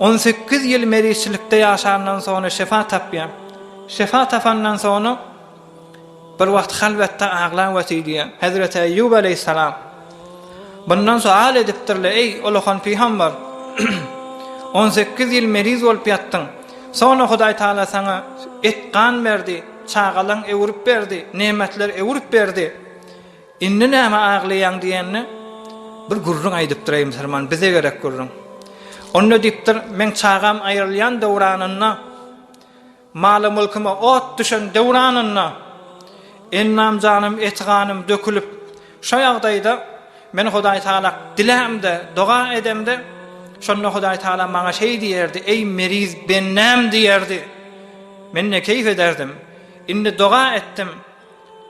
On sekiz ýyl merizçilikde ýaşandan soňra şefa tapýar. Şefa tapandan soňra bir wagt halwetde aglap otyr diýýär. Hezreti Eýýub aleýhissalam bundan sual edipdirler, Eý, ulakan pygamber! On sekiz ýyl meriz bolup ýatdyň. Soňra Hudaý Tagala saňa et-gan berdi, çagalaň öwrüp berdi, nemetler öwrüp berdi. Indi nämä aglaýaň diýende, Bir gürrüň aýdypdyr-eý musulman, bize gerek gürrüň. Onda diýipdir, Meň çagam aýrylýan döwranynda, maly-mülküme ot düşen döwranynda, ennam-janym, eti-ganym dökülip, şo ýagdaýda men Hudaýtagala dilämde, doga edemde, şonda Hudaýtagala maňa şeý diýerdi, Eý, meriz bendäm diýerdi. Men ne keýp ederdim. Indi doga etdim,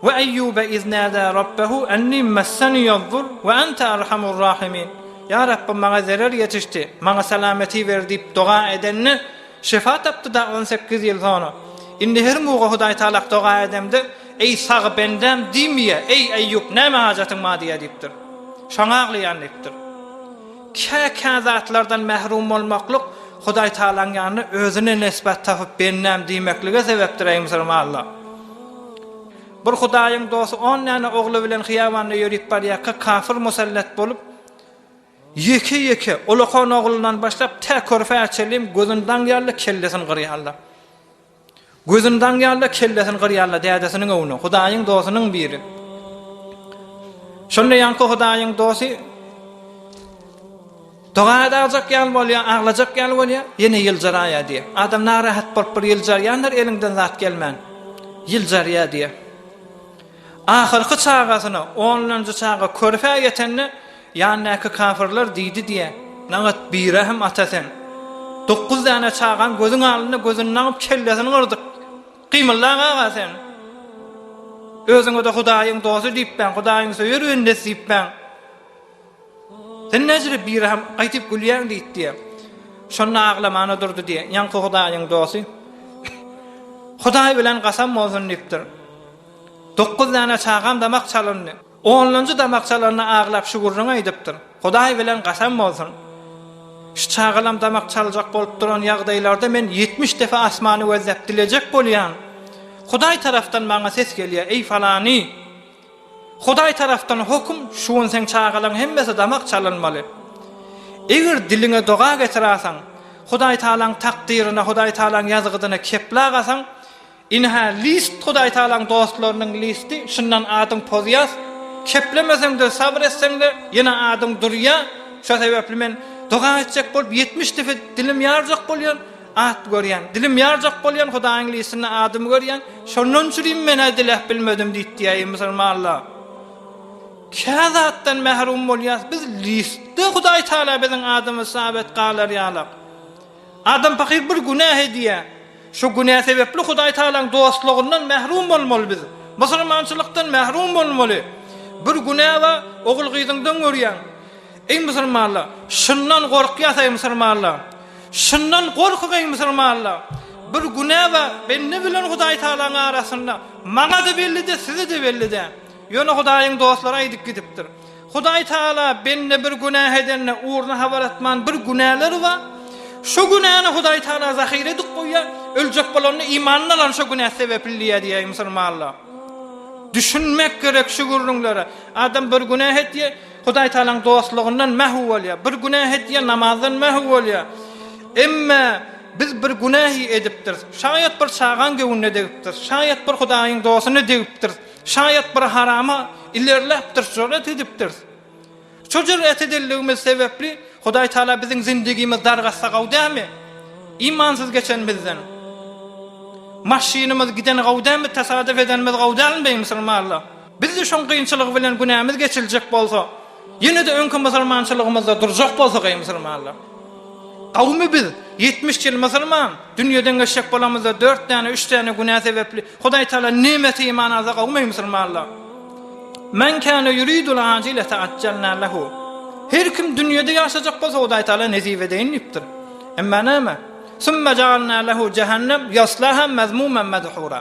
Wa Eýýube iz nada Rabbahu anni massaniýad-dur wa anta arhamur rahimin, Ýa Rabbym, maňa zerer ýetişdi, maňa salameti ber diýip doga edende, şefa tapdy-da on sekiz ýyl soňra. Indi her muga Hudaýtalak doga edemde, Eý, sag bendäm diýmeýär, Eý, Eýýup, näme hajatyň bar diýýär diýipdir. Şoňa aglaýan diýipdir. Kä-kä zatlardan mährum bolmaklyk Hudaýtagalaň ýanynda özüne nesbet tapyp bendäm diýmeklige sebepdir, eý musulmanlar! Bir Hudaýyň dosty on däne ogly bilen hyýabanda ýörüp barýarka kafir musallat bolup, ýeke-ýeke, ulakan oglundan başlap tä körpäçe çenli gözüni daňýarlar, kellesini gyrýarlar. Gözüni daňýar-da, kellesini gyrýar-da dädesiniň öwni, Hudaýyň dosynyň biri. Şonda ýaňky Hudaýyň dosty doga edajek ýaly bolýar, aglajak ýaly bolýar, ýene ýyljyraýar diýýär. Adam narahat bolup bir ýyljarýandyr, eliňden zat gelmän. Ýyljarýar diýýär. Ahyrky çagasyna, onunjy çaga körpä ýetende, Ýandaky kafyrlar diýdi diýe, Nagat birahim ata sen. Dokuz däne çagaň gözüň alynda gözüni nagyp kellesini gyrdyk. Gymylda aga sen. Özüňe-de Hudaýyň dosty diýipbäň, Hudaýyň söýer bendesi diýipbäň. Sen näjili birahim gaýtyp gülýäň diýdi diýe. Şonda aglamana durdy diýe, ýaňky Hudaýyň dosty. Hudaý bilen gasam bolsun diýipdir. Dokuz däne çagam damak çalyndy. Onlanjy damakçalarynda aglap şu gürrüňi aýdypdyr. Hudaý bilen gasam bolsun, şu çagalam damak çaljak bolup duran ýagdaýlarda men ýetmiş depe asmany gözläp dilejek bolýan. Hudaý tarapdan maňa ses gelýär, Eý falany! Hudaý tarapdan hoküm, şu gün seň çagalaň hemmesi damak çalynmaly. Eger diliňe doga getiräseň, Hudaýtagalaň takdyryna, Hudaýtagalaň ýazgydyna kepla gasaň, Ine-hä list Hudaýtagalaň dostlarynyň listi, şundan adyň pozýas, keplemeseňde, sabyr etseňde, ýene adyň durýa, şo sebäpli men doga etjek bolup ýetmiş depe dilim ýarjak bolýan, at görýän, dilim ýarjak bolýan, Hudaýyň listinde adymy görýän, şondan üçülim men-ä diläp bilmedim diýip diýäýi musulmanlar. Kä zatdan mährum bolýas, biz listde Hudaýtagala biziň adymyz sabit galar ýalak. Adam pakyr bir günäh edýär. Şu günä sebäpli Hudaý Tagalaň dostlugyndan mährum bolmaly biz. Musulmançylykdan mährum bolmaly. Bir günä bar, ogul-gyzyňdan görýäň. Eý musulmanlar, şundan gorkýas eý musulmanlar. Şundan gorkuň eý musulmanlar. Bir günä bar, bende bilen Hudaý Tagalaň arasynda. Maňa-da bellide, size-de bellide. Ýöne Hudaýyň dostlary aýdyp gidipdir. Hudaý Tagala bende bir günäh edende ugruna habar atman bir günäleri bar. Şo günäni Hudaý Tagala zahyra edip goýýar. Öljek bolanda imanyny alan şo günäsi sebepli diýýär diýýär musulmanlar. Düşünmek gerek şu gürrüňlere. Adam bir günäh etýär, Hudaý Tagalaň dostlugyndan mähw bolýar. Bir günäh etýär, namazdan mähw bolýar. Emma biz bir günähi edipdiris. Şaýat bir çagaň göwnüne degipdiris. Şaýat bir Hudaýyň dostuny degipdiris. Şaýat bir harama ilerläpdiris, joret edipdiris. Şu joret edenligimiz sebäpli Hudaý Taala biziň zindigimiz dargatsa gowy dälmi? Imansyz geçenimizden. Maşynymyz gideni gowy dälmi, tasadyp edenimiz gowy dälmi beý musulmanlar? Bizde şoň gynçylygy bilen günämiz geçiljek bolsa, Ýene-de öňki musulmançylygymyzda durjak bolsak, eý musulmanlar! Gawumy biz, ýetmiş ýyl musulman, dünýeden geçjek bolamyzda dört däne, üç däne günä sebäpli, Hudaý Tagala nemesi iman alsa gawumy eý musulmanlar! Men kana yuridul ajile ta'acjalna lehu. Her kim dünýede ýaşajak bolsa Hudaý Tagala nesip edeýin diýipdir. Emma näme? Summa ja'alna lehu jahannem yaslaha mazmuman madhura.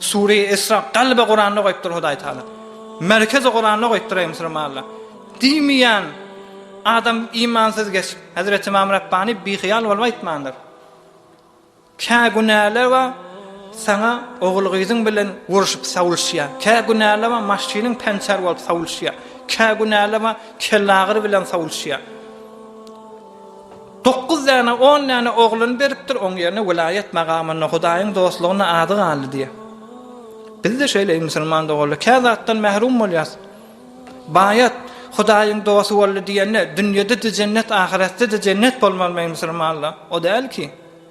Sureý Esra kalbe Kuranda goýupdyr Hudaý Taala. Merkeze Kuranda goýupdyr eý musulmanlar. Diýmeýän adam imansyz geç. Hazret Imam Rabbani bihyýal bolup aýtmandyr. Kä günäler bar, saňa ogul gyzyň bilen uruşyp sawluşýar. Kä günäler bar, maşynyň pençer bolup sawluşýar. Kä günäler bar, kellagyr bilen sawluşýar. Dokuz däne, on däne ogluny beripdir, oň ýerine welaýat magamyny, Hudaýyň dostlugyny ady galdy diýýär. Biz-de şeýle, eý musulman doganlar, kä zatdan mährum bolýas. Baýat, Hudaýyň dosty boldy diýende, dünýede-de jennet, ahyretde-de jennet bolmalymy, eý musulmanlar? O däl ki.